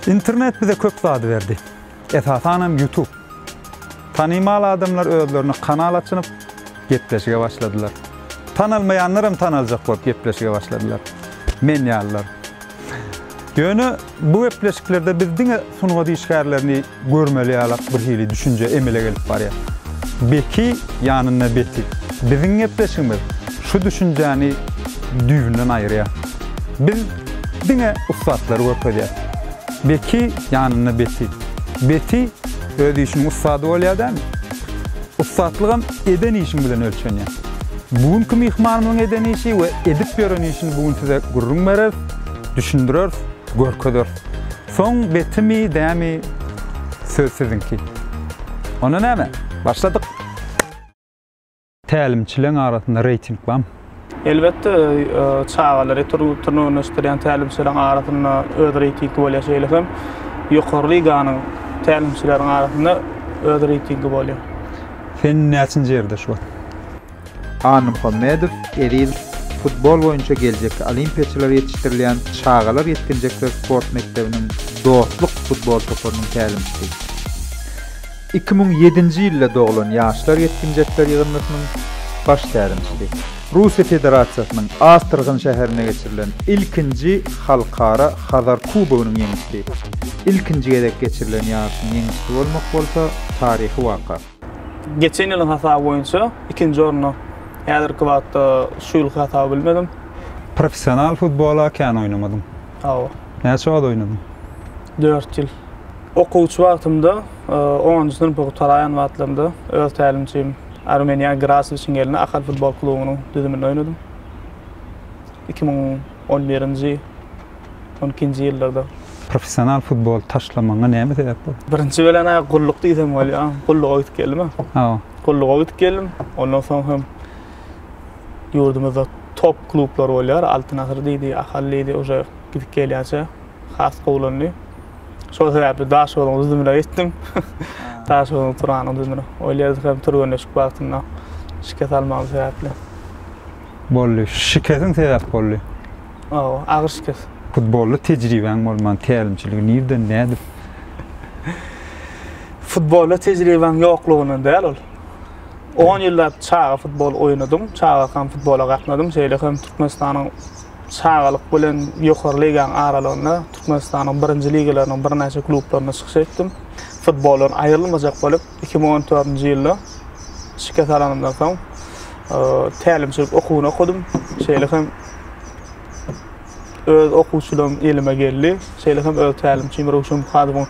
Internet bize köp zady berdi. Esasanam YouTube. Tanymal adamlar özlerine kanal açynyp, gepleşige başladylar. Tanalmaýanlar hem tanaljak bolup gepleşige başladylar. Men ýalylar. Ýöne bu gepleşiklerde biz diňe sungat işgärlerini Görmeli ýalak birhili düşünje emele gelip barýar. Beki ýanynda Beti. Biziň gepleşigimiz şu düşünjäni düýbünden aýyrýar. Biz diňe ussatlary görkezýäs. Beki ýanynda Beti. Beti öz işiniň ussady bolýar dämi? Ussatlygam eden işiň bilen ölçenýär. Bu günki myhmanymyzyň eden işi we edip ýören işini bu gün size gürrüň bereris, düşündireris, görkezeris. Soň betimi dämi söz siziňki. Onda näme, başladyk! Tälimçileň arasynda reýting bamy? Elbetde, çagalary türgenleşdirýän tälimçileriň arasynda öz reýtingi bolýar, şeýle hem ýokary liganyň tälimçileriň arasynda öz reýtingi bolýar. Sen näçinji ýerde şu wagt? Annamuhammedow Eziz futbol boýunça geljekki olimpiýaçylary ýetişdirilýän çagalar-ýetginjekler sport mekdebiniň Dostluk futbol toparynyň tälimçisi. Iki müň ýedinji ýylda doglan ýaşlar-ýetginjekler ýygyndysynyň baş tälimçisi. Russiýa Federasiýasynyň Astrahyn şäherinde geçirilen ilkinji Halkara Hazar kubogynyň ýeňijsi. Ilkinji gezek geçirilen ýaryşyň ýeňijsi bolmak bolsa taryhy waka. Geçen ýylyň hasaby boýunça ikinji orna häzirki wagtda şu ýylky hasaby bilmedim. Professional futbola kän oýnamadyň. Hawa. Näçe wagt oýnadyň? Dört ýyl. Okuwçy wagtymda, onunjy synpy gutaraýan wagtlarymda öz tälimçim Armeniýa Graswiçiň elinde Ahal futbol klubunyň düzüminde oýnadym. Iki müň on birinji. on ikinji ýyllarda. Professional futbol taşlamagyňa näme sebäp boldy? Birinji bilen-ä gulluk diýsem bolýar. Gulluga gidip geldim-ä. Hawa. Gulluga gidip geldim. Ondan soň hem ýurdumyzda top klublar bolýar. Altyn asyr diýdi, Ahal diýdi. Uje gidip gelýänçä has gowulandy. Şol sebäpli Daşoguzyň düzümine geçdim. Daşoguzyň Turanyň düzümine. Ol ýerde hem türgenleşik wagtynda şikes almagym sebäpli. boldy. Şikesiň sebäp boldy. Hawa, agyr şikes. Futbolda tejribäň bolman, tälimçiligi nirden, nädip? Futbolda tejribäň ýoklugyndan däl ol. On ýyllap çaga futbol oýnadym, çagakam futbola gatnadym. Şeýle hem Türkmenistanyň çagalyk bilen ýokary ligaň aralygynda Türkmenistanyň birinji ligalarynyň birnäçe klublarynda çykyş etdim. Futboldan aýrylmajak bolup, iki müň on dördünji ýylda şikes alanymdan soň tälimçilik okuwyny okadym. Şeýle hem öz okuwçylarym elime geldi. Şeýle hem öz tälimçim Röwşen Muhadowyň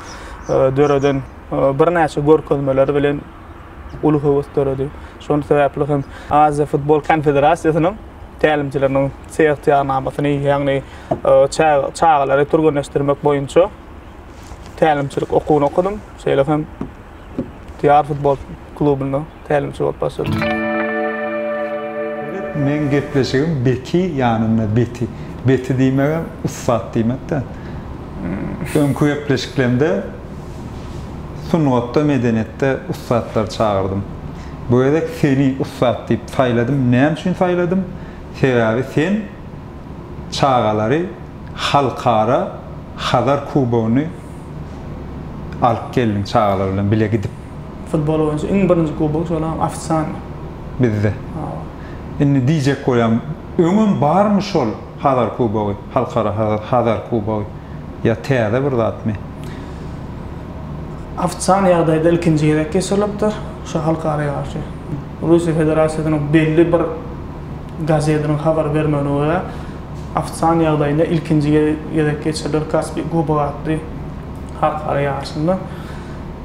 e, döreden e, birnäçe görkezmeleri bilen uly höwes döredi. Şonuň sebäpli hem Aziýa futbol konfederasiýasynyň tälimçileriniň seýahtyýarnamasyny, ýagny e, çagalary türgenleşdirmek boýunça tälimçilik okuwyny okadym. Şeýle hem Diýar futbol klubynda tälimçi bolup başladym. Meň gepleşigim Beti ýanynda Beti. Beti diýmegem ussat diýmek-dä. Öňki gepleşiklerimde sungatda, medeniýetde ussatlary çagyrdym. Bu gezek seni ussat diýip saýladym. Näme üçin saýladym? Sebäbi sen çagalary Halkara Hazar kubogyny alyp geldiň çagalar bilen bile gidip. Futbol boýunça iň birinji kubok şolam ofisialny. Bizde. Hawa. Indi diýjek bolýan öňem barmy şol Hazar kubogy, Halkara Hazar kubogy ýa täze bir zatmy? Ofisialny ýagdaýda ilkinji gezek geçirilipdir şu halkara ýaryşy. Russiýa Federasiýasynyň belli bir Gazetiniň habar bermegine görä, Afsan ýagdaýynda ilkinji gezek geçiriler Kaspi Kubogy atly halkara ýaryşynda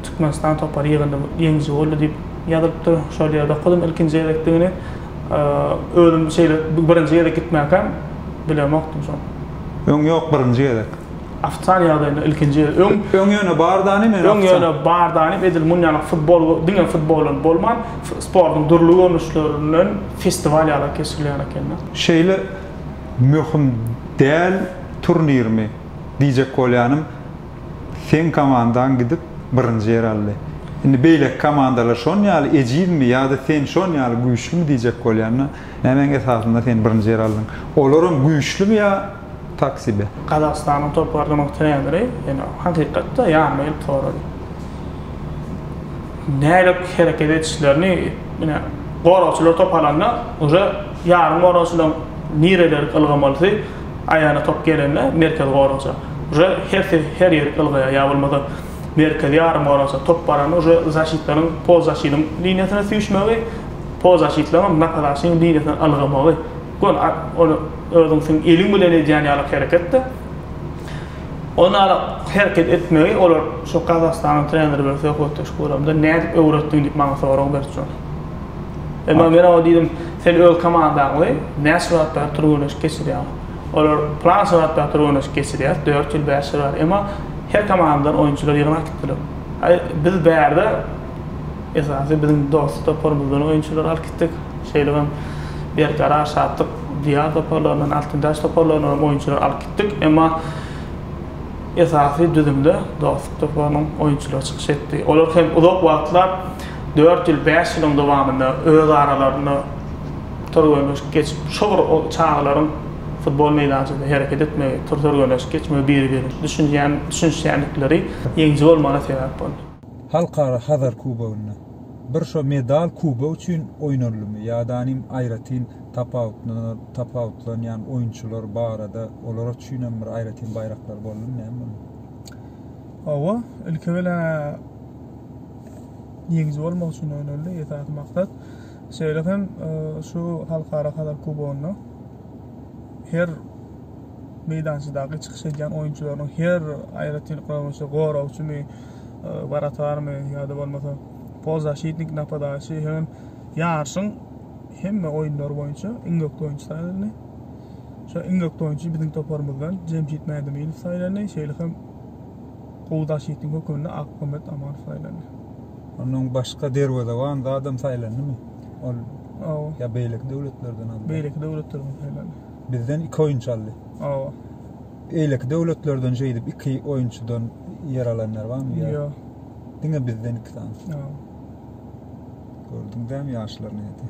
Türkmenistan topary ýygyndy ýeňiji boldy diýip ýazylypdyr. Şol ýerde okadym ilkinji gezekdigini. Özüm şeýle birinji gezek gitmäkäm bilemokdym şony. Öň ýok birinji gezek. Ofitsial ýagdaýynda ilkinji ýeri öň. Öň ýöne bar dany men Öň ýöne bar dany edil muny ýaly futbol diňe futbol bilen bolman sportuň dürli görnüşlerinden festiwal ýaly geçirilýän ekeni. Şeýle möhüm däl turnirmi diýjek bolýanym seň komandaň gidip birinji ýer aldy. Indi beýleki komandalar şon ýaly ejizmi ýada sen şon ýaly güýçlümi diýjek bolýanda nämäň esasynda sen birinji ýer aldyň. Olaram güýçlümi ýa. tak sebe. Gazagystanyň toparynyň treneri ýene hakykatda ýanyma gelip sorady. Nädip hereket edişlerini ine goragçylar top alanda uje ýarym goragçylaň nireleri ylgamalysy aýagyna top gelende merkezi goragça uje hersi her ýerik ylgaýar ýa bolmasa merkezi ýarym goragça top baranda uje zaşitlaryň polzaşiniň liniýasyna süýşmegi polzaşitlaňam napadaşynyň liniýasyna ylgamagy Gon at, ony özüň seň eliň bilen edýän ýaly hereketde. Ony ala hereket etmegi olar şu Gazagystanyň treneri bilen söhbetdeş guramda nädip öwretdiň diýip maňa sorag berip dur. Emma men oňa diýdim, sen öz komandaňly näçe wagt bäri türgenleşik geçirýäň? Olar plança wagt bäri türgenleşik geçirýäs, dört ýyl, bäş ýyl bäri. Emma her komandadan oýunçylar ýygnap gitdiler. Aý, biz bärde Esasy biziň dost toparymyzdan oýunçylary alyp gitdik. Şeýdip hem Berkarar, Şatlyk, Diýar toparlaryndan, Altyn daş toparlaryndan hem oýunçylary alyp gitdik. Emma esasy düzümde Dostluk toparynyň oýunçylary çykyş etdi. Olar hem uzak wagtlap, dört ýyl, bäş ýylyň dowamynda öz aralarynda türgenleşik geçip, şo bir çagalaryň futbol meýdançasynda hereket etmegi, türgenleşik geçmegi, biri-birine düşünýän, düşünişýändikleri ýeňiji bolmagyna sebäp boldy. Halkara Hazar kubogynda bir şo medal kubok üçin oýnaldymy ýadanym aýratyn tapawutlanýan oýunçylar barada olara üçinem bir aýratyn baýraklar boldumy näme boldy? Hawa, ilki bilen ýeňiji bolmak üçin oýnaldy esasy maksat. Şeýle hem şu Halkara Hazar kubogynda her meýdançadaky çykyş edýän oýunçylarynyň her aýratyn goragçymy, wratarmy ýa-da bolmasa polzaşitnik napadaýçy hemem ýaryşyň hemme oýunlary boýunça iň ökde oýunçy saýlandy. Şo iň ökde oýunçy biziň toparymyzdan Jemşit Mädemeýew saýlandy, şeýle hem gowy daşitnik hökmünde Akmuhammet Amanow saýlandy. Ondan başga derwezeban zadam saýlandymy? Ol Hawa. Ýa beýleki döwletlerden aldy? Beýleki döwletlerden saýlandy. Bizden iki oýunçy aldy. Hawa. Eýleki döwletlerden şeýdip iki oýunçydan ýer alanlar barmy? Ýok. Diňe bizden iki sany. Ýok. Gördüň däm ýaşlar nädi?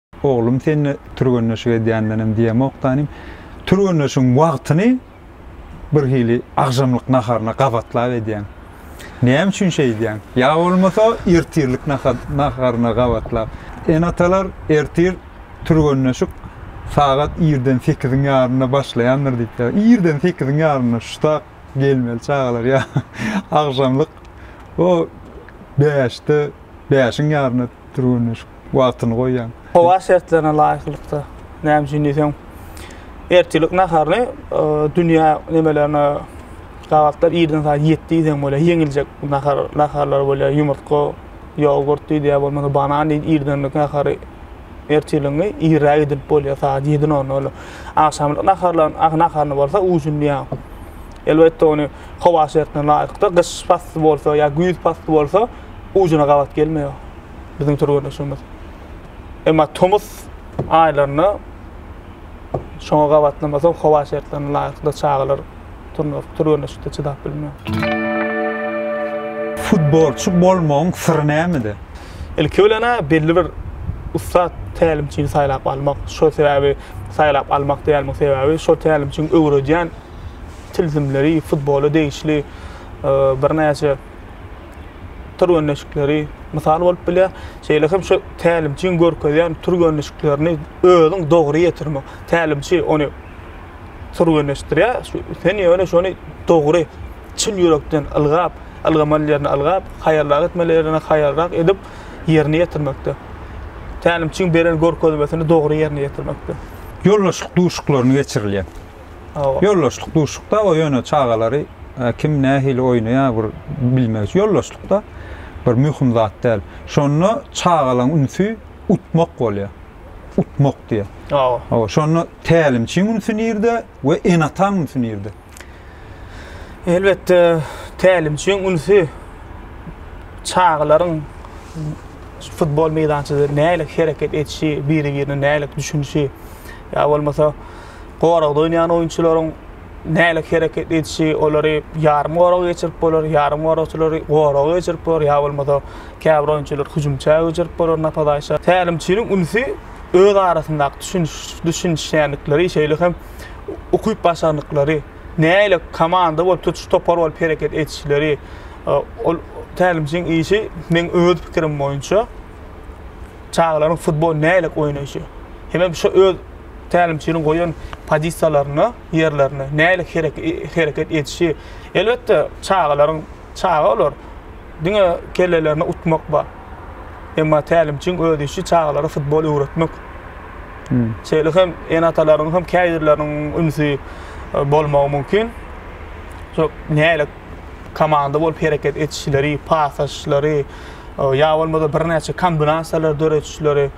Oglum senle türgenleşik edýändenem diýemok danym. Türgenleşigiň wagtyny birhili agşamlyk naharyna gabatlap edýäň. Näme üçin şeýdýäň? Ýa bolmasa ertirlik naharyna gabatlap. Ene-atalar ertir türgenleşik sagat irden sekiziň ýarymynda başlaýandyr diýipdir. Irden sekiziň ýarymynda şutak gelmeli çagalar ýa agşamlyk o bäşde, bäşiň ýarymynda Türgenleşik wagtyny goýýan. Howa şertlerine laýyklykda näme üçin diýseň ertirlik naharyny dünýä nemelerine gabatlap irden saat ýetdi diýseň bolýar ýeňiljek nahar naharlar bolýar ýumurtga ýogurt diýdi ýa bolmasa banan diýdi irdenlik nahary ertirligiňi irräk edip bolýar saat ýedi nol nol agşamlyk naharlaryň ah, naharyny bolsa ujun diýýär elbetde ony howa şertlerine laýyklykda gyş pasly bolsa ýa güýz pasly bolsa ujuna gabat gelmeýär biziň türgenleşigimiz. Emma tomus aýlarynda şoňa gabatlamasak howa şertlerine laýyklykda çagalar turnuryp türgenleşikde çydap bilmeýär. Futbolçy bolmagyň syry nämede? Ilki bilen-ä belli bir ussat tälimçini saýlap almak. Şol sebäbi saýlap almak diýenimiň sebäbi şol tälimçiň öwredýän tilsimleri futbola degişli birnäçe türgenleşikleri mysal bolup bilýär. Şeýle hem şu tälimçiň görkezýän türgenleşiklerini özüň dogry ýetirmek. Tälimçi ony türgenleşdirýär. Sen ýöne şony dogry çyn ýürekden ylgap, ylgamaly ýerini ylgap, haýalrak etmeli ýerini haýalrak edip ýerine ýetirmekde. Tälimçiň beren görkezmesini dogry ýerine ýetirmekde. Ýoldaşlyk duşuklaryny geçirilýär. Ýoldaşlyk duşlukda o ýöne çagalary kim nähili oýnaýar bir bilmek üçin ýoldaşlykda bir möhüm zat däl. Şonda çagalaň ünsi utmak bolýar. Utmak diýýär. Hawa. Şonda tälimçiň ünsi nirde we ene-ataň ünsi nirde? Elbetde tälimçiň ünsi çagalaryň futbol meýdançada nälik hereket edişi, biri-birine nälik düşünişi ýa bolmasa goragda oýnaýan oýunçylaryň nälik hereket edişi, olary ýarym goraga geçirip bolar, ýarym goragçylary goraga geçirip bolar, ýa bolmasa käbir oýunçylary hüjümçä geçirip bolar napadaýça. Tälimçiniň ünsi öz arasyndaky düşüniş, düşünişýänlikleri, şeýle hem ukyp-başarnyklary, näle komanda bolup, tutuş topar bolup hereket edişleri, ol tälimçiniň işi, meň öz pikirim boýunça, çagalaryň futbol nälik oýnaýşy. Hemem şo öz. tälimçiniň goýan pozisiýalaryna, ýerlerine nähili hereket edişi. Elbetde, çagalaryň, çaga olar, diňe kellelerine utmak bar. Emma tälimçiň öz işi çagalara futbol öwretmek. Şeýle hem ene-atalaryň hem käbirleriniň ünsi e, bolmagy mümkin. Şo nähili komanda bolup hereket edişleri, pas açyşlary, e, ýa bolmasa birnäçe kombinasiýalar döredişleri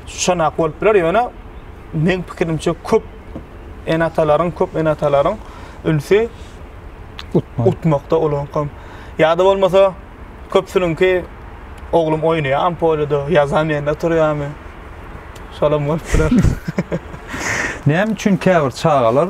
Şonak bolup biler, ýöne meň pikirimçe köp ene-atalaryň, köp ene-atalaryň ünsi utmak. Utmakda olaňkam. Ýa-da bolmasa köpsüniňki oglum oýnaýar ampolada, ýazam ýerinde turýarmy? Şolam bolup biler. Näme üçin käbir çagalar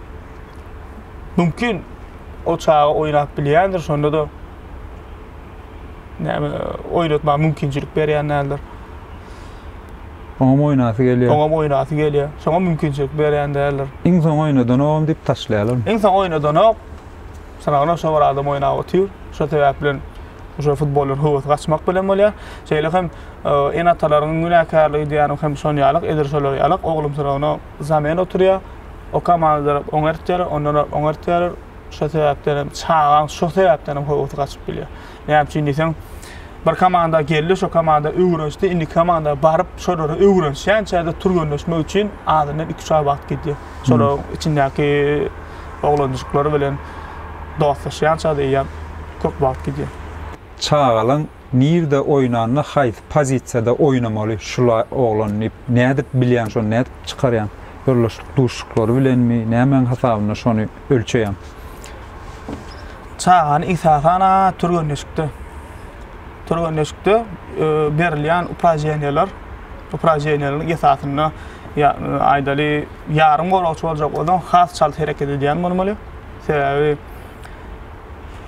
Mümkin o çaga oýnap bilýändir, şonda-da näme oýnatma mümkinçilik berýän däldir. Oňam oýnasy gelýär. Oňam oýnasy gelýär. Şoňa mümkinçilik berýän däldir. Iň soň oýnadan ogam diýip taşlaýarlarmy? Iň soň oýnadanok. Sanagyna şo bir adam oýnap otyr. Şo sebäp bilen şo futboldan höwesi gaçmak bilen bolýar. Şeýle hem e, ene-atalaryň günäkärligi diýýänim hem şon ýalyk, edil şolar ýalyk oglum sanagyna Zamen oturýar. Oka maňzyrak oňert ýarar, ondanrak oňert ýarar. Şo sebäpden hem çagaň şo sebäpden hem howasy gaçyp bilýär. Näme üçin diýseň, bir komanda geldi, şo komanda öwrenişdi, indiki komanda baryp, şolara öwrenişýänçä-de türgenleşmek üçin azyndan iki-üç aý wagt gidýär. Şolaryň içindäki oglanjyklar bilen dostlaşýança-da eýýäm köp wagt gidýär. Çagalaň Nirde oýnanda haýsy pozisiýada oýnamaly şula oglan diýip nädip bilýäň şony nädip çykarýaň ýoldaşlyk duşuşyklary bilenmi nämäň hasabynda şony ölçeýäň. Çagany esasan a türgenleşikde türgenleşikde berilýän upraženiýalar upraženiýalaryň esasynda ýa aýdaly ýarym goragçy boljak bolsaň has çalt hereket edýän bolmaly sebäbi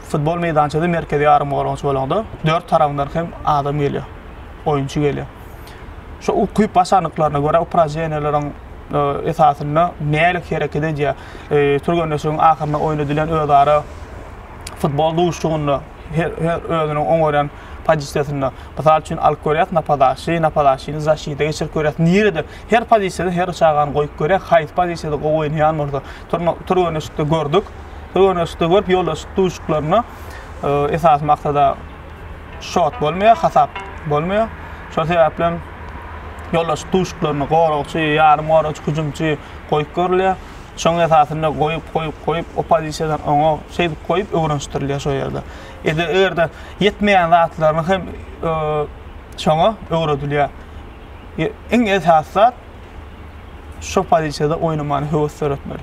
Futbol meýdançasy merkezi ýarym goragçy bolanda dört tarabyndan hem adam gelýär. Oýunçy gelýär. Şu ukyp başarnyklaryna görä uprajeniýeleriň e, esasynda nälik hereket edýär. E, Türgenleşigiň ahyrynda oýnadylýan özara futbol duşuşygynda her, her özüniň oň görýän pozisiýasynda. Mysal üçin alyp görýäs napadaşy, napadaşyny zaşida geçirip görýäs. Nirede her pozisiýada her çagany goýup görýäs, haýsy pozisiýada gowy oýnaýan bolsa. Türgenleşikde gördük. Türgenleşikde görüp ýoldaşlyk duşuklaryna e, esas maksada şot bolmaýar, hasap bolmaýar. Şol sebäpli hem ýoldaşlyk duşuklaryny goragçy, ýarym goragçy, hüjümçi goýup görülýär. Şoň esasynda goýup, goýup, goýup, o pozisiýadan oňa şeýdip goýup öwrenişdirilýär şo ýerde. Ede erde ýetmeýän zatlaryny hem e, şoňa öwredilýär. Iň esas zat Şoh pozisiýada oýnamaly, höwes döretmeli.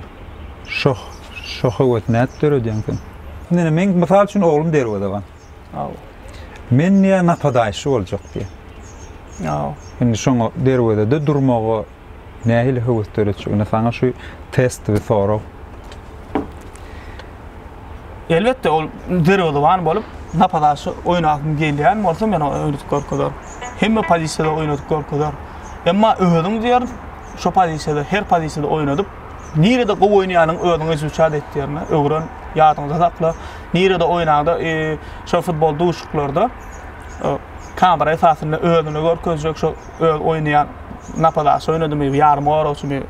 Şoh, şo höwesi nädip döredýäň sen? Indi meň mysal üçin oglum derwezeban. Aw. Men diýýän napadaýşy boljak diýýän. Aw. Indi şoňa derwezede durmaga nähili höwes döretjek? Indi saňa şu test we sorag. Elbetde ol derwezewan bolup napazaşy oýnasym gelýän bolsa men oňa öwredip görkezer. Hemme pozisiýada oýnadyp görkezer. Emma özüň diýerin şu pozisiýada her pozisiýada oýnadyp nirede gowy oýnaýanyňy özüň izuçat et diýerin. Öwren, ýadyňda sakla. Nirede oýnaňda şo futbol duşuklarda kamera esasynda özüni görkezjek şo öz oýnaýan napazaşy oýnadymy, ýarym goragçymy,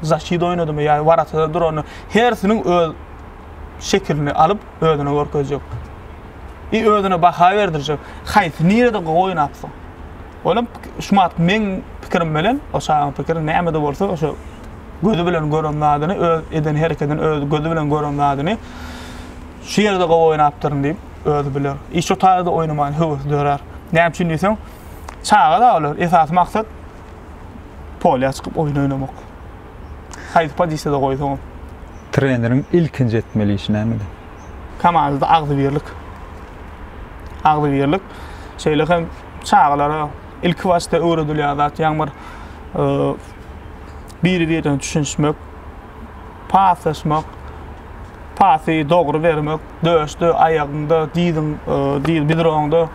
zaçit oýnadymy ýa waratada durany Hersiniň öz şekilini alyp özüne görkezjek. I özüne baha berdirjek. Haýsy nirede goýnapsyň? Olam şu wagt meň pikirim bilen o çagaň pikiri nämede bolsa oşo gözi bilen gören zadyny öz eden hereketini öz gözi bilen gören zadyny şu ýerde gowy oýnapdyryn diýip özi biler. I şo taýda oýnamaýan höwesi dörär. Näme üçin diýseň çaga-da olar esasy maksat polýa çykyp oýun oýnamak. Haýsy pozisiýada goýsaňam. Treneriň ilkinji etmeli işi nämede? Komandada agzybirlik. Agzybirlik. Şeýle hem çagalara ilki başda öwredilýän zat ýaňy bir biri-birine düşünişmek, paslaşmak, pasy dogry bermek, döşde, aýagyňda, diziň, diz bidroňda,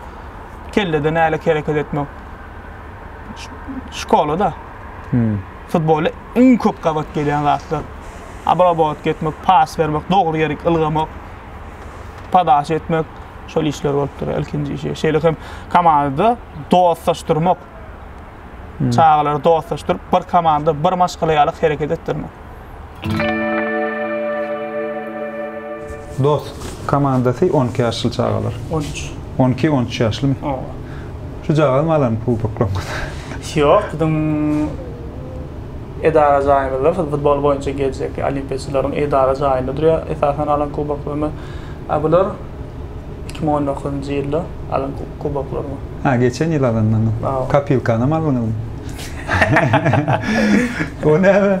kellede nälik hereket etmek. Şkolada. Futbolda iň köp gabat gelýän zatlar, obrabowatka etmek, pas bermek, dogry ýerik ylgamak, podaça etmek, şol işler bolup durýar ilkinji işi. Şeýle hem komandada dostlaşdyrmak. Çagalary dostlaşdyryp, bir komanda, bir maşgala ýaly hereket etdirmek. Dos komandasy on iki ýaşly çagalar. On üç. On iki, on üç ýaşlymy? Oba. Şu jagazmy alan kuboklaryňyzy? Ýok, biziň edara jaýymyzda futbol boýunça geljek olimpiýaçylaryň edara jaýynda durýar esasan alan kuboklarymyz. A bular iki müň on dokuzynjy ýylda alan kuboklarym. Ha, geçen ýyl alanlaryňyz. Oba. Kopilkanam aldyňyzmy? O näme?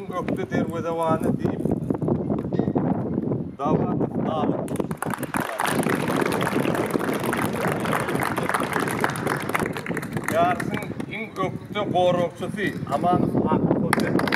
Ökde derwezebany diýip Dawlatow Alyp. Ýaryşyň iň ökde goragçysy Amanow Akyp Hojaýew.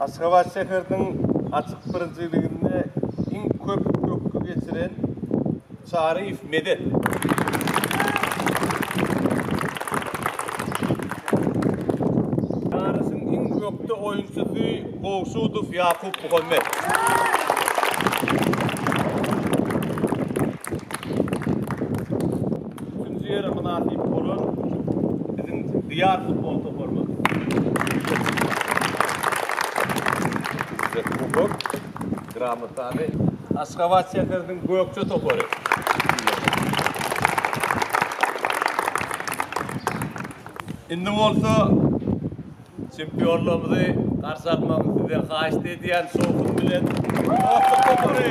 Aşgabat şäheriniň açyk birinjiliginde iň köp pökgi geçiren Çaryýew Medet. Ýaryşyň iň ökde oýunçysy Gowşudow Ýakup Muhammet. Üçünji ýere mynasyp bolan biziň Diýar futbol toparymyz. Bize kubok, gramotany Aşgabat şäheriniň Gökje topary. Indi bolsa Çempionlarymyzy garşy almagyňy sizden haýyşt edýän şowhun bilen dostluk topary.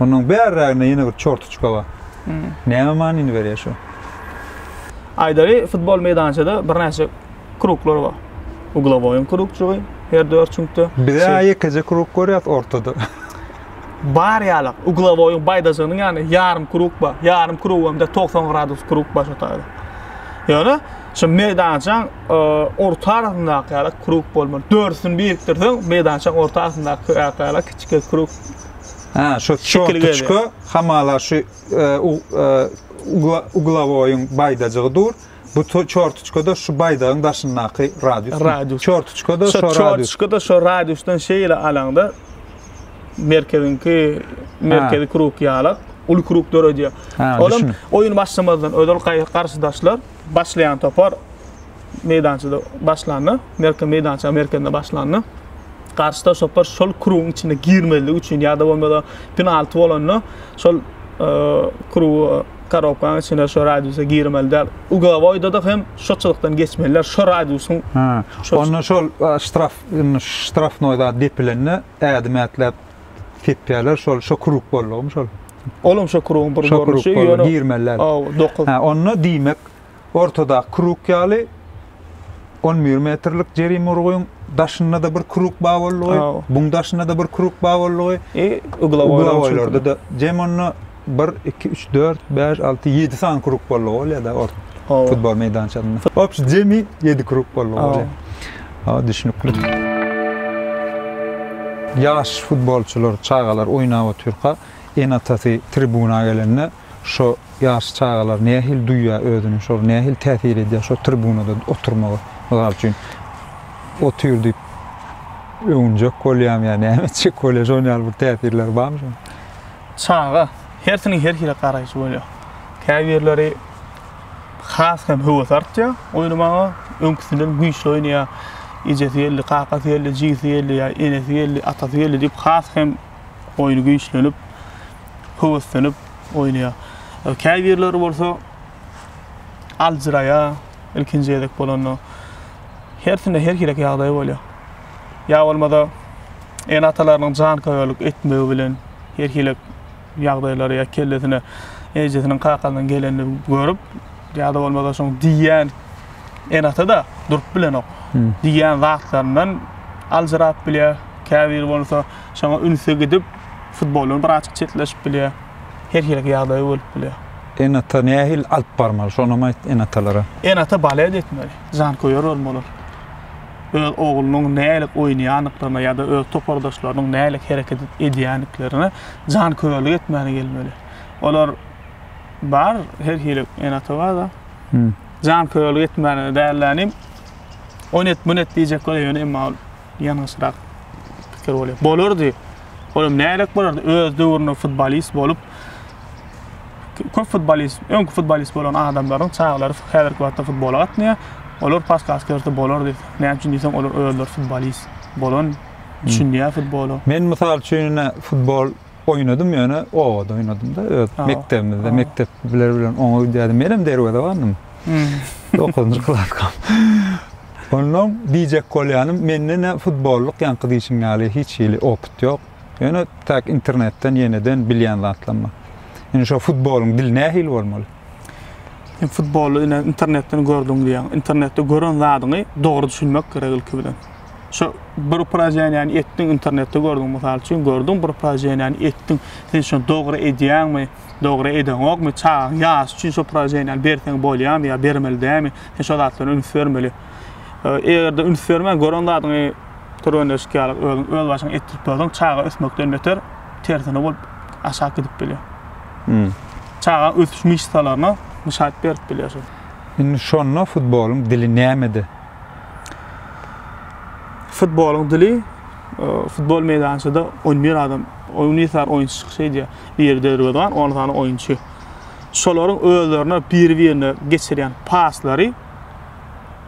Onuň bärräginde ýene bir çortuçka bar. Näme manyny berýär şu? Aýdaly, futbol meýdançada birnäçe kruglar bar. Uglowoýyň krugçygy her dört çüňkde. Biz-ä ýekeje krug görýäs ortada. Bar ýala. Uglowoýyň baýdaşynyň ýanynda ýarym krug bar. Ýarym krug hem-de togsan gradus krug bar şo taýda. Ýöne şu meýdançaň orta arasyndaky ýala krug bolmaly. Dördüsini birikdirseň, meýdançaň orta arasyndaky ýala Kiçike krug. Hä, şu çortuçka hamala şu e, e, uglawoýyň baýdajygy dur. Bu çortuçkada şu baýdagyň daşyndaky radius. Radius. Çortuçkada şu radius. Çortuçkada şu radiusdan şeýle alaňda merkeziňki merkezi krug ýalak uly krug döredýär. Olam oýun başlamazdan özel garşydaşlar başlaýan topar meýdançada başlanda, merke meýdança merkezinde başlanda, garşy tarap topar şol krugyň içine girmezligi üçin ýa-da bolmasa penalty bolanda şol e, krugy korobkanyň içine şu radiusa girmeli däl. Ugovoýda-da hem şu çyzykdan geçmeliler, şu radiusyň Ha. Şol- Onda şol a, ştraf, indi ştrafnoý zat depilende ädim ätläp tepýärler, şol şu kruk boldugymy şol? olam şu krugyň bir Şu kruk görnüşi, boldy, ýöne girmeli däl. Aw, dokuz. Ha, onda diýmek Ortadaky krug ýaly on bir metrlik jerime urgyň daşynda-da bir krug bar boldugy, buň daşynda-da bir krug bar boldugy, e, uglaboýlarda da jem onda bir, iki, üç, dört, bäş, alty, ýedi sany krug boldugy bolýar-da ort futbol meýdançasynda. Obşi jemi ýedi krug boldugy bolýar. Ha, düşnükli. Ýaş futbolçylar, çagalar oýnap otyrka, ene-atasy tribuna gelende, Şo ýaş çagalar nähili duýýar özüni, şolar nähili täsir edýär şo tribunada oturmagy? Mysal üçin, otyr diýip öwünjek bolýarmy ýa näme etjek bolýar? Şonuň ýaly bir täsirleri barmy şoň? Çaga, hersiniň her hili garaýşy bolýar. Käbirleri has hem höwes artýar oýnamaga, öňküsinden güýçli oýnaýar. Ejesi geldi, kakasy geldi, jigisi geldi ýa enesi geldi, atasy geldi diýip has hem oýny güýçlenip, höweslenip oýnaýar. Käbirleri bolsa aljyraýar, ilkinji gezek bolanda. Hersinde her hili ýagdaý bolýar. Ýa bolmasa ene-atalarynyň janköýerlik etmegi bilen her hili ýagdaýlary ýa kellesine ejesiniň kakasynyň gelenini görüp, ýa-da bolmasa şoň diýýän ene-ata da durup bilenok. Diýýän zatlaryndan aljyrap bilýär. Käbir bolsa Şoňa ünsi gidip, futboldan birazajyk çetleşip bilýär. Her hili ýagdaý bolup bilýär. Ene-ata nähili alyp barmaly, şonam aýt ene-atalara? Ene-ata balet etmeli, janköýer bolmalylar. Öz oglunyň nälik oýnaýandyklaryna ýa-da öz topardaşlarynyň nälik hereket edýändiklerine janköýerlik etmäni gelmeli. Olar bar, her hili ene-ata bar-da. Janköýerlik etmäni däl-de inim, ony et, muny et diýjek bolýar ýöne emma ol Ýalňyşrak pikir bolýar. Bolardy. Olam nägerek bolardy. Öz döwründe futbolist bolup köp futbolist, öňki futbolist bolan adamlaryň çagalary häzirki wagtda futbola gatnaýar. Olar podkast berse bolardy. Näme üçin diýseň, olar özleri futbolist bolan, düşünýär futbola. Men mysal üçin ine futbol Oýnadym ýöne obada oýnadymda öz mekdebimizde mekdep biler bilen oňa gidýärdim menem derwezebandym dokuzynjy klaska onnoň diýjek bolýanym mende ne futbollyk ýaňky diýşiň ýaly hiç hili opyt ýok ýöne tak internetden ýeneden bilýän zatlarym bar indi şo futbolyň dili nähili bolmaly sen futboly ine internetden gördüň diýýäň internetde gören zadyňy dogry düşünmek gerek ilki bilen. Şu bir upraženiýany etdiň, internetde gördüň, mysal üçin, gördüň bir upraženiýany etdiň, sen şony dogry edýäňmi, dogry edeňokmy, çagaň ýaşy üçin şu upraženiýany berseň bolýarmy ýa bermeli dälmi, sen şo zatlara üns bermeli. Eger-de üns bermän, gören zadyňy türgenleşik ýaly özüň öz başyňa etdirip dursaň, çaga ösmekden beter tersine bolup aşak gidip bilýär. Hmm. Çagaň ösüş myşsalaryna muşat berip bilýär. Indi şonda futbolyň dili nämede? futbolyň dili futbol meýdançada 11 adam Unisar oýunçy çykyş edýär. Biri derwezan, 10 sany oýunçy. Şolaryň özlerine bir-birine geçirýän paslary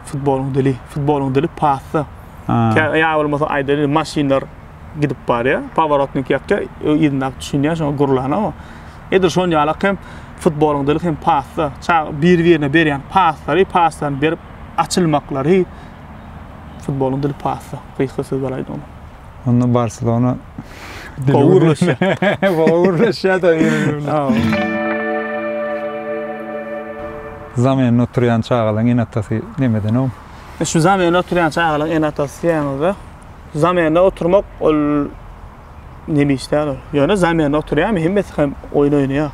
futbolyň dili. Futbolyň dili pasda. Ýa bolmasa aýdaýyn, maşynlar gidip barýar. Paworotnik ýapýar, ýygyndap düşünýär, şoňa gurlana o. Edil şoň ýalak hem futbolyň dili hem pasda. Çag bir-birine berýän paslary, paslaryny berip açylmaklary futbolyň dili passa, gysga sözler aýdanyň. Onda Barselona gowy gürleşýär. Gowy gürleşýär-de Zamynda oturýan çagalaryň ene-atasy nemedenw? E şu zamynda oturýan çagalaryň ene-atasy diýýäňizde, zamynda oturmak ol nemiş däl ol. Ýöne zamynda oturýarmy, hemmesi hem oýun oýnaýar.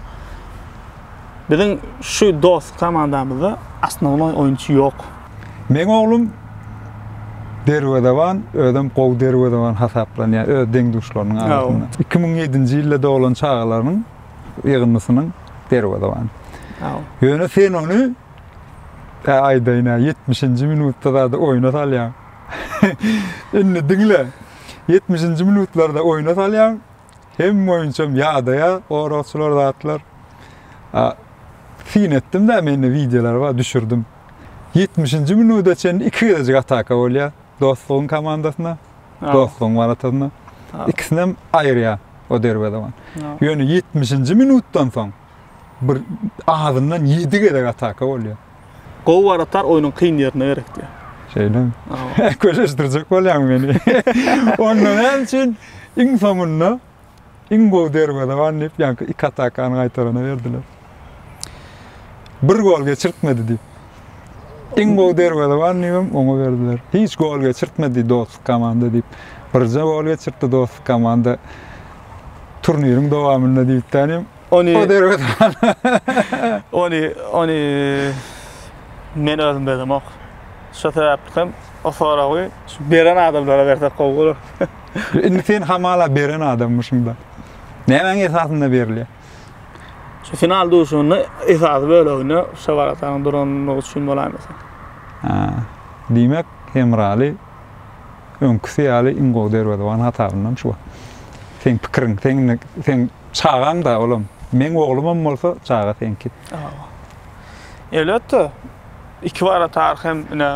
Biziň şu dos komandamyzda osnovnoý oýunçy ýok. Meň oglum derwezeban, özem gowy derwezeban hasaplanýar öz deň-duşlarynyň arasynda. Iki müň ýedinji ýylda doglan çagalaryň ýygyndysynyň derwezebany. Ýöne sen ony, ä aýdaýyn-ä, ýetmişinji minutda zady oýna salýaň. Indi diňle, ýetmişinji minutlarda oýna salýaň. Hem boýunçam ýadaýa goragçylar zatlar. Syn etdim-de mende wideolar bar, düşürdim. 70-nji minuda çenli iki gezejik ataka bolýar. Dostlugyň komandasyna, Dostlugyň waratasyna. Ikisinem aýyrýar o derwezewan. Ýöne 70-nji minutdan soň bir azyndan ýedi gezek ataka bolýar. Gowy waratar oýnuň kyn ýerine gerekdi. Şeýle. Köşeşdirjek bolýaň meni. Onda näme üçin iň soňunda iň gowy derwezewan diýip ýaňky iki atakany gaýtarana berdiler. Bir gol geçirtmedi diýip. Iň gowy derwezewan diýip oňa berdiler. Hiç gol geçirtmedi dostluk komanda diýip. Birje gol geçirtdi dostluk komanda. Turniriň dowamynda diýip tänim. Ony O derwet. Ony ony men özüm bezemok. Şo sebäpli hem o soragy şu beren adamlara bersek gowy bolar. Indi sen hamala beren adammyşyň-da. Nämäň esasynda berilýär? Şu final duşuşygynda esasy böleginde Şebaratanyň durandygy üçin bolaýmasa. Hä. Diýmek, Hemraly Öňküsi ýaly iň gowy derwezewan hasabyndan şu. Seň pikiriň, seň indi seň çagaň-da olam. Meň oglumam bolsa çaga seňki. Elbetde, iki waratar hem ine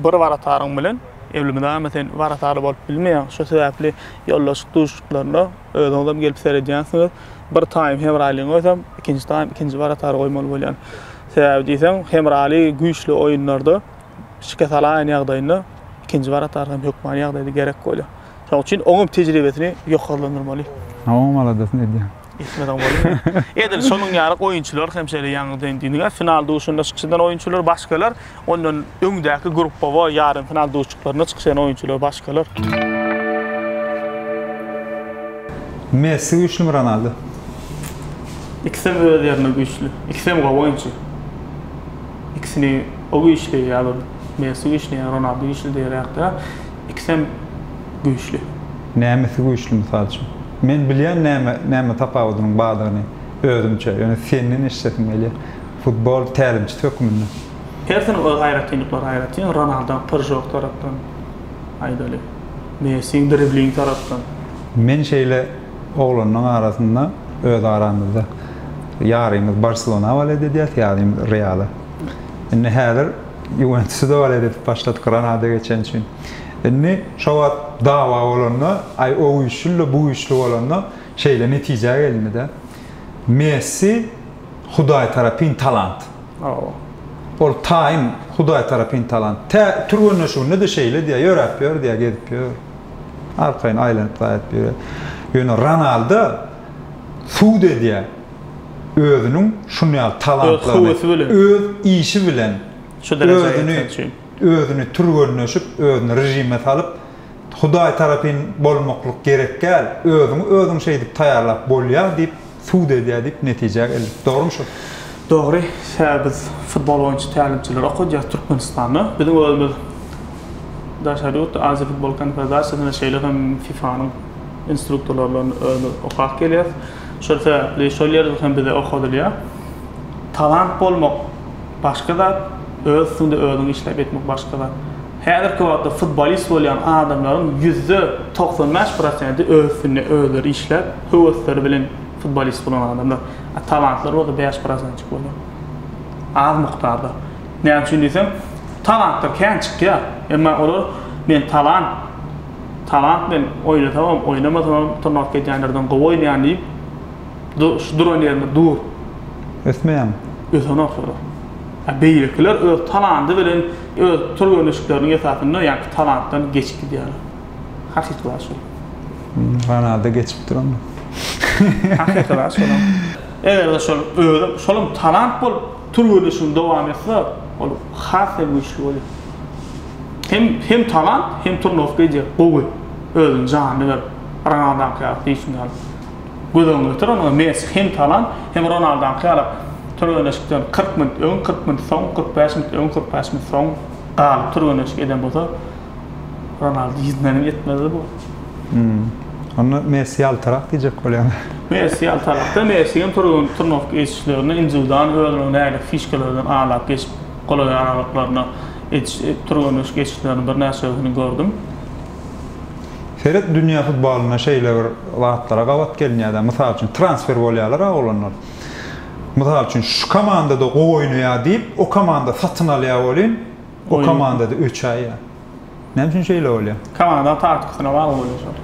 bir warataryň bilen elmydama sen waratar bolup bilmeýäň. Şo sebäpli ýoldaşlyk duşuşyklaryna özüňizem gelip seredýänsiňiz. Bir taýym Hemralyny goýsam, ikinji taýym ikinji waratary goýmaly bolýan. Sebäbi diýseň, Hemraly güýçli oýunlarda, şikes alaýan ýagdaýynda ikinji barat arkaýyn hökmany ýagdaýda gerek bolýar. Şonuň üçin oňam tejribesini ýokarlandyrmaly. Ha oňam aladasyny edýär. Etmeden bolmaz. Edil şonuň ýaly oýunçylar hem şeýle ýaňy sen diýdiňä final duşunda çykyş eden oýunçylar başgalar, ondan öňdäki gruppawa ýarym final duşuşyklarynda çykyş eden oýunçylar başgalar. Messi güýçlimi Ronaldo? Ikisem öz ýerinde güýçli. Ikisem gowy oýunçy. Ikisini O güýçli ýa-da Messi güýçli ýa-da Ronaldo güýçli diýer ýakda ikisem güýçli. Nämesi güýçli mysal üçin? Men bilýän näme näme tapawudynyň bardygyny özümçe, ýöne senden eşidesim gelýär. Futbol tälimçisi hökmünde. Hersiniň öz aýratynlyklary aýratyn. Ronaldo pyržok tarapdan aýdaly. Messi dribling tarapdan. Men şeýle oglanlaň arasynda öz aramyzda ýarymyz Barselona waleýt edýäs, ýarymyz Reala. Indi häzir Ýuwentusu da walet edip başlady Granada geçen üçin. Indi şo wagt dawa bolanda, aý o güýçlüdi-de, bu güýçli bolanda şeýle netijä gelindi-de. Messi Hudaý tarapyn talant. Hawa. Ol taýyn Hudaý tarapyn talant. Tä türgenleşiginde-de şeýle diýýär, ýöräp ýör diýýär, gezip ýör. Arkaýyn aýlanyp-gaýyp ýörýär. Ýöne Ronaldo sud edýär. özüniň şunýaly talantlaryny öz işi bilen şu derejä ýetmek üçin özüni türgenleşip, özüni režime salyp, Hudaý tarapyn bolmaklyk gerekgäl, özüňi özüň şeýdip taýýarlap bolýar diýip sud edýär diýip netijä geldik. Dogrymy şu? Dogry, hää biz futbol boýunça tälimçileri okadýas Türkmenistanda. Biziň özümiz daşary ýurtda Aziýa futbol konfederasiýasynda şeýle hem FIFA-nyň instruktorlaryny özümiz okap gelýäs. Şol sebäpli şol ýerde hem bize okadylýar. Talant bolmak başga zat, öz üstüňde özüň işläp etmek başga zat. Häzirki wagtda futbolist bolýan adamlaryň ýüzde togsan bäş prosenti öz üstünde özleri işläp, höwesleri bilen futbolist bolan adamlar. A talantlar bolsa bäş prosentjik bolýar. Az mukdarda. Näme üçin diýseň, talantlar kän çykýar. Emma olar men talant Talant men oýnasamam, oýnamasamam turnawka gidýänlerden gowy oýnaýan diýip, şu duran ýerinde dur. Ösmeýäň. Ösenok şolar. A beýlekiler öz talandy bilen, öz türgenleşikleriniň esasynda ýaňky talantdan geçip gidýärler. Hakyky zat şol. Ronaldo geçip dur onda. Hakyky zat şolam. Eger-de şol özem, şolam talant bolup, Türgenleşigiň dowam etse, ol has hem güýçli bolýar. Hem hem talant, hem turnowka eýjek, gowy, özüni janyny berip, Ronaldaňky ýaly süýsün ýaly. Göz öňüňe getir, ony Messi hem talant, hem Ronaldaňky ýaly türgenleşikden kyrk minut öň, kyrk minut soň, kyrk bäş minut öň, kyrk bäş minut soň galyp türgenleşik eden bolsa, Ronaldo ýüzmeniň ýetmezdi bu. Hmm. Onda Messi ýaltarak diýjek bolýan. Messi ýaltarakda, Messi hem türgen turnowka geçişlerinde indiwidual özüniň nädip fişkalardan alap geçip golaý aralyklarynda ediş türgenleşik geçişleriniň birnäçesini gördüm. Seret dünýä futbolynda şeýle bir zatlara gabat gelinýär-de, mysal üçin transfer bolýarlar-a oglanlar. Mysal üçin şu komandada gowy oýnaýar diýip, o komanda satyn alýar welin, Bu komandada üç aý ýa. Näme üçin şeýle bolýar? Komanda taktikasyna bagly bolýar şol.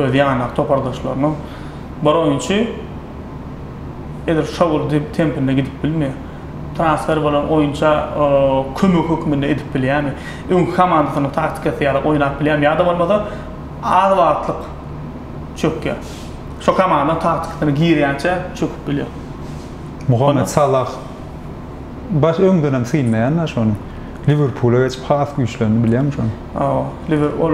Öz ýandaky topardaşlarynyň bir oýunçy edil şo gün diýip tempinde gidip bilmeýär. Transfer bolan oýunça kömek hökmünde edip bilýärmi? Öňki komandasynyň taktikasy ýaly oýnap bilýärmi? Ýa-da bolmasa az wagtlyk çökýär. Şo komandanyň taktikasyna girýänçä çöküp bilýär. Muhammet Salah. Baş öňdenem synlaýan da şony. Liwerpula geçip has güýçlendi bilýäňmi şony? Hawa, Liwer ol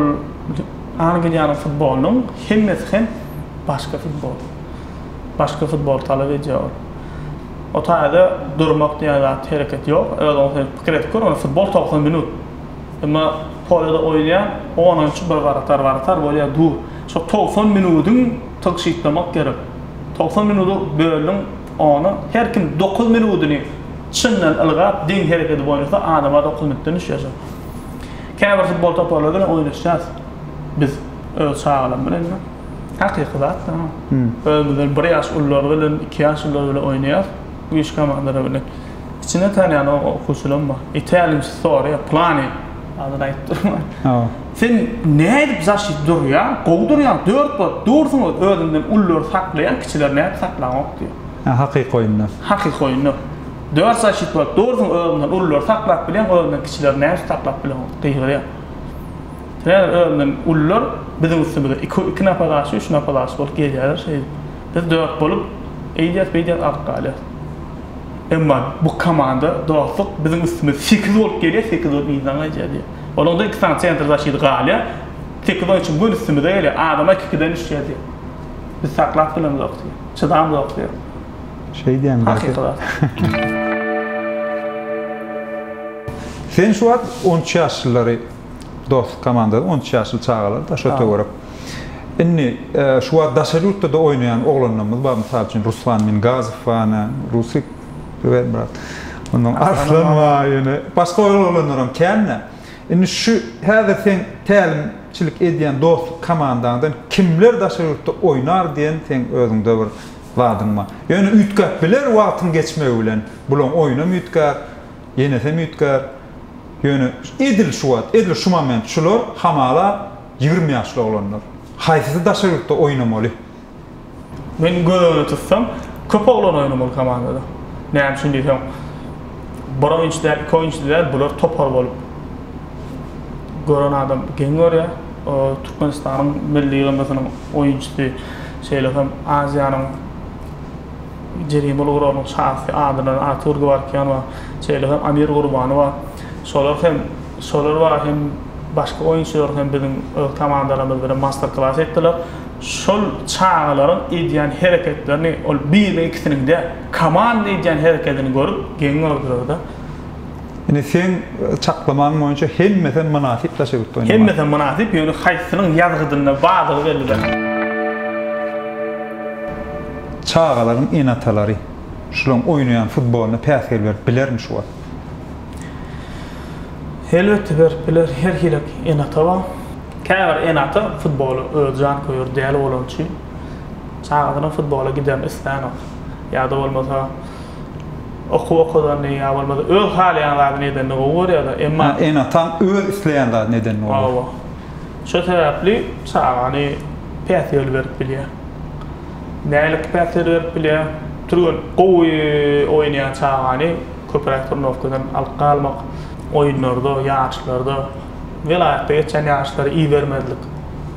Angliýanyň futbolynyň hemmesi hem başga futbol. Başga futbol talap edýär ol. O taýda durmak diýen zat, hereket ýok. Öz oňa sen pikir edip gör, ony futbol togsan minut. Emma polýada oýnaýan on oýunçy bir baratar, baratar bolýar, dur. Şo togsan minudyň tygşytlamak gerek. Togsan minudy böldüň. Ony her kim dokuz minudyny çyndan ylgap, deň hereketi boýunça adama dokuz minutdan düşýärsiň. Käbir futbol toparlary bilen oýnaşýas biz öz çagalarym bilen. Hakyky zat. Özümizden bir ýaş ulular bilen, iki ýaş ulular bilen oýnaýas güýçli komandalar bilen. Içinde tanýan okuwçylarym bar. Tälimçisi soraýar, Pylany adyny aýdyp durma. Sen nädip zaşit durýaň, gowy durýaň, dört bolup dursuň öz, özünden ululary saklaýaň, kiçileri nädip saklaňok diýýär. Hä, hakyky oýunlar. Hakyky oýunlar. Dört zaşit bolup dursuň, özüňden ululary saklap bilýäň, özüňden kiçileri nädip saklap bileňok, gygyrýar. Sebäbi özünden ulular biziň üstümize iki, iki napadaçy, üç napadaçy bolup gelýärler şeýdip. Biz dört bolup eýdýäs, beýdýäs galyp galýarys. Emma bu komanda, dostluk biziň üstümize sekiz bolup gelýär, sekiz bolup yzdan gaýdýar diýýär. Olaňda iki sany sentr zaşit galýar. Sekiz oýunçy bütin üstümize gelýär. Adamlar iki-ikiden düşýär diýip. Biz saklap bilemzok diýip. Çydamzok diýip. Şeý diýen zat ýok. Sen şu wagt on üç ýaşlylary dostluk komandasy on üç ýaşly çagalar daş o töwerek. Indi şu wagt daşary ýurtda-da oýnaýan oglanlarymyz bar. Mysal üçin Ruslan Mingazow bar, Rusik Güwelmyrat. Ondan Arslan bar ýöne başga oglanlaram kän-dä. Indi şu häzir seň tälimçilik edýän dostluk komandaňdan kimler daşary ýurtda oýnar diýen seň özüňde bir zadyň bar. Ýöne üýtgäp biler wagtyň geçmegi bilen. Bulaň oýunam üýtgär, ýenesem üýtgär. Ýöne edil şu wagt, edil şu moment şular hamala ýigrimi ýaşly oglanlar. Haýsysy daşary ýurtda oýnamaly? Men göz öňünde tutsam, köp oglan oýnamaly komandada. Näme üçin diýseň, bir oýunçy däl, iki oýunçy däl, bular topar bolup, gören adam geň görýär. Türkmenistanyň milli ýygyndysynyň oýunçysy, şeýle hem Aziýanyň jerimeler guralynyň çagasy adyndan Artur Gewarkýan bar, şeýle hem Amir Gurbani bar. Şolar hem, şolar bar hem başga oýunçylar hem biziň öz komandalarymyz bilen master-klas etdiler. Şol çagalaryň edýän hereketlerini, ol biriniň-ikisiniň däl, komanda edýän herekedini görüp, geň gördüler-de. Indi seň çaklamaň boýunça hemmesem mynasyp daşa gitdi oýnamaga. Hemmesem mynasyp, ýöne haýsysynyň ýazgydynda bardygy belli däl. Çagalaryň ene-atalary şularyň oýnaýan futbolyna päsgel berip bilermi şu wagt? Elbetde berip biler, her hili ene-ata bar. Käbir ene-ata futbola özi janköýer däl bolany üçin, çagasynyň futbola giderini islänok. Ýa-da bolmasa, okuw okadanyny ýa bolmasa öz halaýan zadyny edenini gowy görýär-de, emma. Hä, ene-ataň öz isleýän zadyny edenini gowy görýär. Hawa. Şo sebäpli çagany päsgel berip bilýär. Nälik päsgel berip bilýär? Türgen gowy oýnaýan çagany. Köpräk turnowkadan alyp galmak, oýunlarda, ýaryşlarda, welaýatda geçýän ýaryşlara ibermezlik,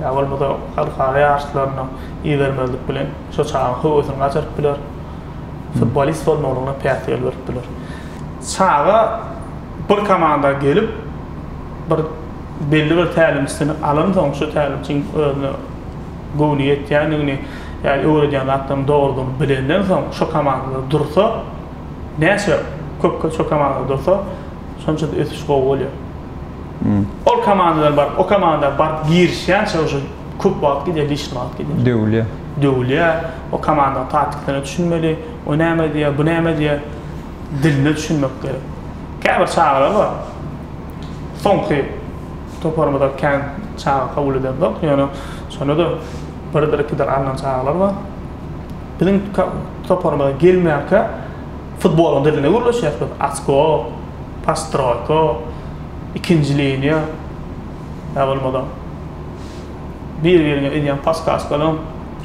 ýa bolmasa halkara ýaryşlaryna ibermezlik bilen şo çagaň höwesini gaçyryp biler, futbolist bolmalygyna päsgel berip biler. Çaga bir komanda gelip, bir belli bir tälimçisini alansoň, şu tälimçiň özüne göwni ýetýändigini, ýa öwredýän zatlaryny dogrudygyny bilenden soň, şo komandada dursa, Näçe köp köp komanda dursa, şonça-da ösüş gowy bolýar. Ol komandadan baryp, o komanda baryp girişýänçä uje köp wagt gidýär, lişni wagt gidýär. Döwülýär. Döwülýär. O komandaň taktiklerine düşünmeli. O näme edýär, bu näme edýär? Diline düşünmek gerek. Käbir çagalar bar. Soňky toparymyzda kän çaga kabul edenok, ýöne şonda-da birdir-ikidir alnan çagalar bar. Biziň toparymyza gelmänkä futbolyň diline gürleşýäs biz, oçko, postroýka, ikinji liniýa, ýa bolmasa bir-birine edýän paskaşkalaryň,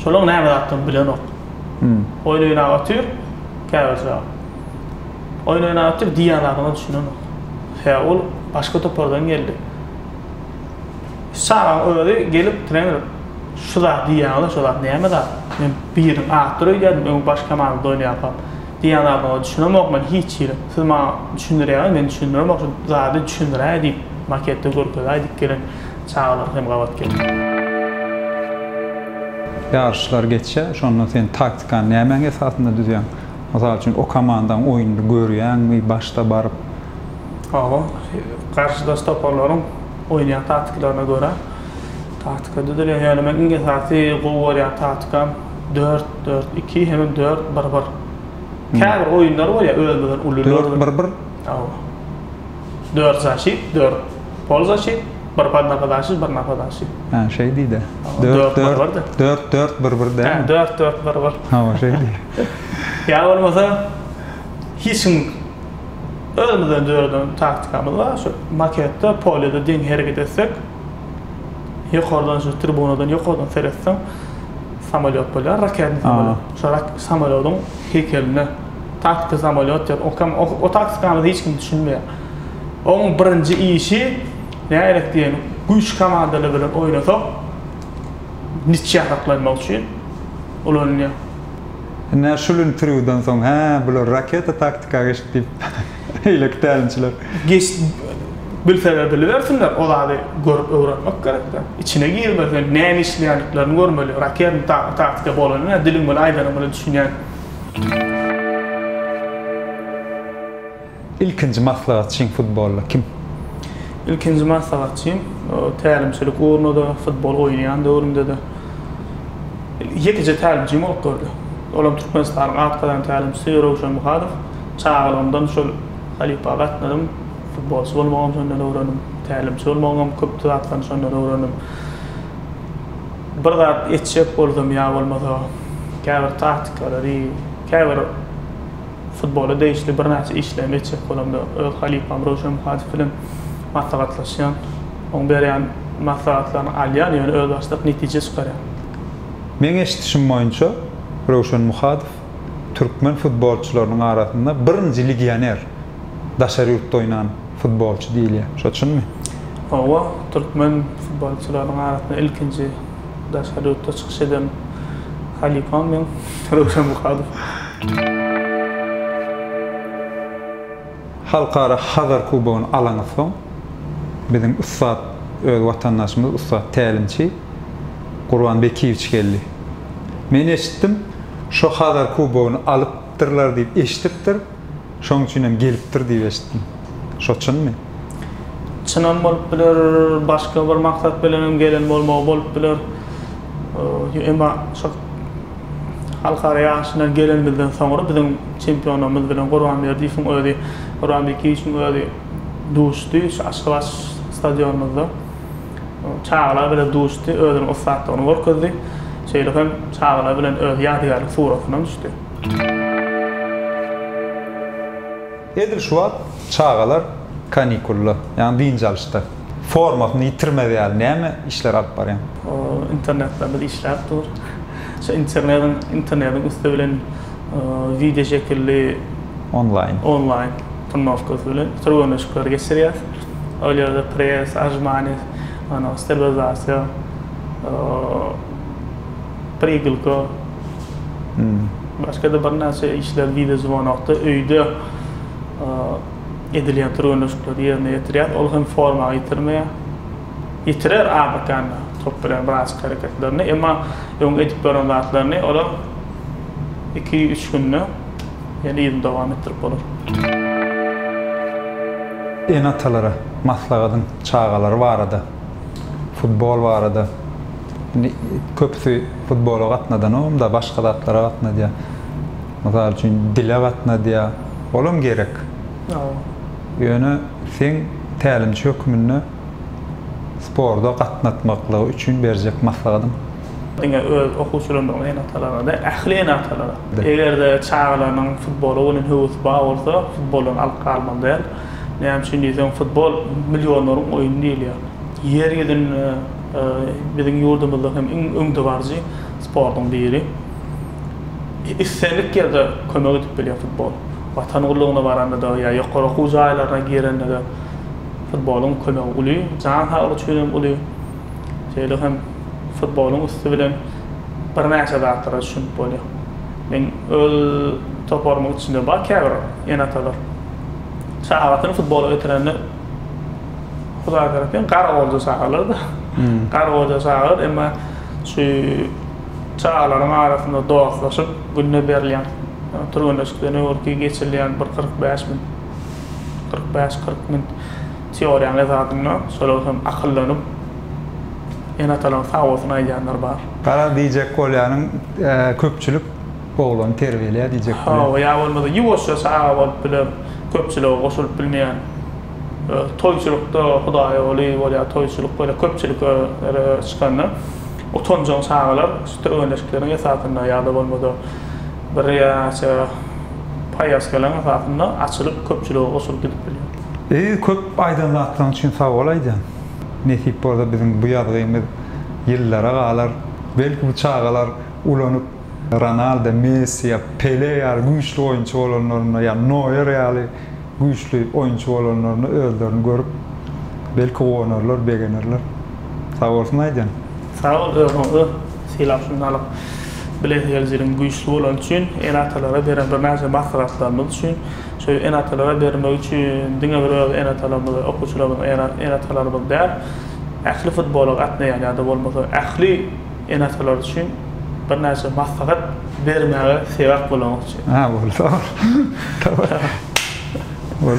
şolaryň näme zatdygyny bilenok. Oýun oýnap otyr, käbirje oýun oýnap otyr, diýýän zadyňa düşünenok. Sebäbi ol başga topardan geldi. Şahyň özi gelip trener şu zat diýýäňiz-ä şu zat näme zat? Men biriň atyr öýdýädim öň baş komandada oýnaýarkam. Diýýän zadyňyza düşünemok men hiç hili. Siz maňa düşündirýäňiz men düşündiremok şu zady düşündiräý diýip maketde görkezäý diýip gelen çagalar hem gabat geldi. Ýaryşlar geçse şonda sen taktikany nämäň esasynda düzýäň? Mysal üçin o komandaň oýnuny görýäňmi başda baryp? Hawa, garşydaş toparlaryň oýnaýan taktiklaryna görä taktika düzülýär. Ýöne men iň esasy gowy görýän taktikam dört, dört, iki hemem dört, bir, bir. Käbir oýunlar bolýar özüňizden uly. Dört, bir, bir? Hawa. Dört zaşit, dört polzaşit, bir podnapadaşit, bir napadaşit. Hä, şeý diý-de. Dört, bir, bir, de. Dört, dört, bir, bir dälmi? Hä, dört, dört, bir, bir. Hawa, şeý diý. Ýa bolmasa hiç kim Özümizden döreden taktikamyz bar, şu maketde, polýada deň hereket etsek, ýokardan şu tribunadan ýokardan seretseň, samolýot bolýar, raketny samolýot. Şo samolýodyň heýkeline taktika samolýot diýip, o taktikamyza hiç kim düşünmeýär. Oň birinji işi nägerek diýen güýçli komandalar bilen oýnasak, nitçe saklanmak üçin ulanylýar. Ine şul interwýudan soň hä bular raketa taktika geçdi diýip beýleki tälimçiler. Geç bilseler bilibersinler o zady görüp öwrenmek gerekda içine girmesen näme işleýändiklerini görmeli raketn taktika bolany nä diliň bilen aýdanyň bilen düşünýän. Ilkinji maslahatçyň futbolda kim? Ilkinji maslahatçym tälimçilik ugrunda-da, futbol oýnaýan döwrümde-de ýekeje tälimçim bolup durdy. Olam Türkmenistanyň at gazan tälimçisi Röwşen Muhadow. Çagalygymdan şol halypa gatnadym. Futbolçy bolmagam şondan öwrendim. Tälimçi bolmagyňam köp zatlaryny şondan öwrendim. Bir zat etjek bolsam ýa bolmasa käbir taktikalary, käbir. Futbola degişli birnäçe işleri geçirip bolamda öz halypam Röwşen Muhadow bilen maslahatlaşýan. Oň berýän maslahatlaryny alýan, ýöne özbaşdak netije çykarýan. Meň eşidişim boýunça Röwşen Muhadow türkmen futbolçylarynyň arasynda birinji legioner, daşary ýurtda oýnan futbolçy diýilýär. Şo çynmy? Hawa, türkmen futbolçylarynyň arasynda ilkinji Daşary ýurtda çykyş eden halypam meň Röwşen Muhadow. Halkara Hazar kubogyny alany soň biziň ussat öz watandaşymyz ussat tälimçi Gurban Bekiýewiç geldi. Men eşitdim, şo Hazar kubogyny alypdyrlar diýip eşidipdir. Şoň üçinem gelipdir diýip eşitdim. Şo çynmy? Çynam bolup biler, başga bir maksat bilenem gelen bolmagy bolup biler. Emma şo halkara ýaryşyna gelenimizden soňra biziň çempionymyz bilen Gurbanberdiýewiň özi, Gurban Bekiýewiň özi duşdy şu Aşgabat stadionymyzda. Çagalar bilen duşdy, özüniň ussatlygyny görkezdi. Şeýle hem çagalar bilen öz ýadygärlik suratynam düşdi. Edil şu wagt çagalar kanikulda, ýagny dynç alyşda. Formasyny ýitirmez ýaly näme işler alyp barýaň? Internetde biz işläp dur. Şu internetiň internetiň üsti bilen wideo şekilli onlaýn onlaýn turnowkasy bilen türgenleşikleri geçirýäs. Ol ýerde press, ajmaniz, anaw sterilizasyýa, Pribilko, başga-da birnäçe işler wideozwonokda, öýde edilýän türgenleşikleri ýerine ýetirýär. Ol hem forma ýitirmeýär. Ýitirer abatanda top bilen birazajyk hereketlerini, emma öň edip gören zatlaryny olar iki-üç günde ýene yzyny dowam etdirip bolar. Ene-atalara maslagadyň çagalary barada. futbol barada indi köpüsi futbola gatnadanogam-da, başga zatlara gatnadýar. Mysal üçin, dile gatnadýar. Olam gerek. Ýöne seň tälimçi hökmünde sporda gatnatmaklygy üçin berjek maslahatyň? Diňe öz okuwçylarymyzyň ene-atalarynda däl, ähli ene-atalara. Eger-de çagalarynyň futbola bolan höwesi bar bolsa, futboldan alyp galmaly däl. Näme üçin diýseň, futbol millionlaryň oýny diýilýär. Ýer ýüzünde biziň ýurdumyzda hem iň öňdebaryjy sportuň biri. Islendik ýerde kömek edip bilýär futbol. Watan gullugyna baranda-da ýa ýokary okuw jaýlaryna girende-de futboluň kömegi uly, jan saglyk üçin hem uly. Şeýle hem futboluň üsti bilen birnäçe zatlara düşünip bolýar. Men öz toparymyň içinde bar käbir ene-atalar. Sagatyny futbola getirende Hudaýberdi gara goja çagalardy. Hmm. Gara goja çagalar emma şu çagalaryň arasynda dostlaşyp günde berilýän türgenleşikden öňürti geçirilýän bir 45 min 45-40 min teoriýanyň esasynda şolar hem akyllanyp ene-atalaryň sag bolsun aýdýanlar bar. Garaz diýjek bolýanyň köpçülik Oglan terbiýelä diýjek bolýa. Hawa ýa bolmasa ýuwaşja çaga bolup biler, köpçülige goşulyp bilmeýän. Öz toýçulykda hudaýoly bolýar, toýçulyk bolýar, köpçüliklere çykanda utanjaň çagalar stöwenleşikleriň esasynda ýa-da bolmasa bir ýa näçe paýaskalaryň esasynda açylyp köpçülige goşulyp gidip bilýär. Eziz köp aýdan zatlaryň üçin sag bol aýdýan. Nesip bolsa biziň bu ýazgymyz ýyllara galar. Belki bu çagalar ulanyp. Ronaldo, Messi ýa Pele ýaly güýçli oýunçy bolanlarynda ýa Noýer ýaly güýçli oýunçy bolanlarynda özlerini görüp belki guwanarlar, begenerler. Sagbolsun aýdýan. Sag bol özüňizi sylap şunda alyp bilesi geljeginiň güýçli bolany üçin ene atalara beren birnäçe maslahatlarymyz üçin şeýle ene atalara bermek üçin diňe bir öz ene atalarymyz we okuwçylarymyz ene atalarymyz däl ähli futbola gatnaýan ýada bolmasa ähli ene-atalar üçin birnäçe maslahat bermäge sebäp bolanok üçin. Ha, boldy, sag bol.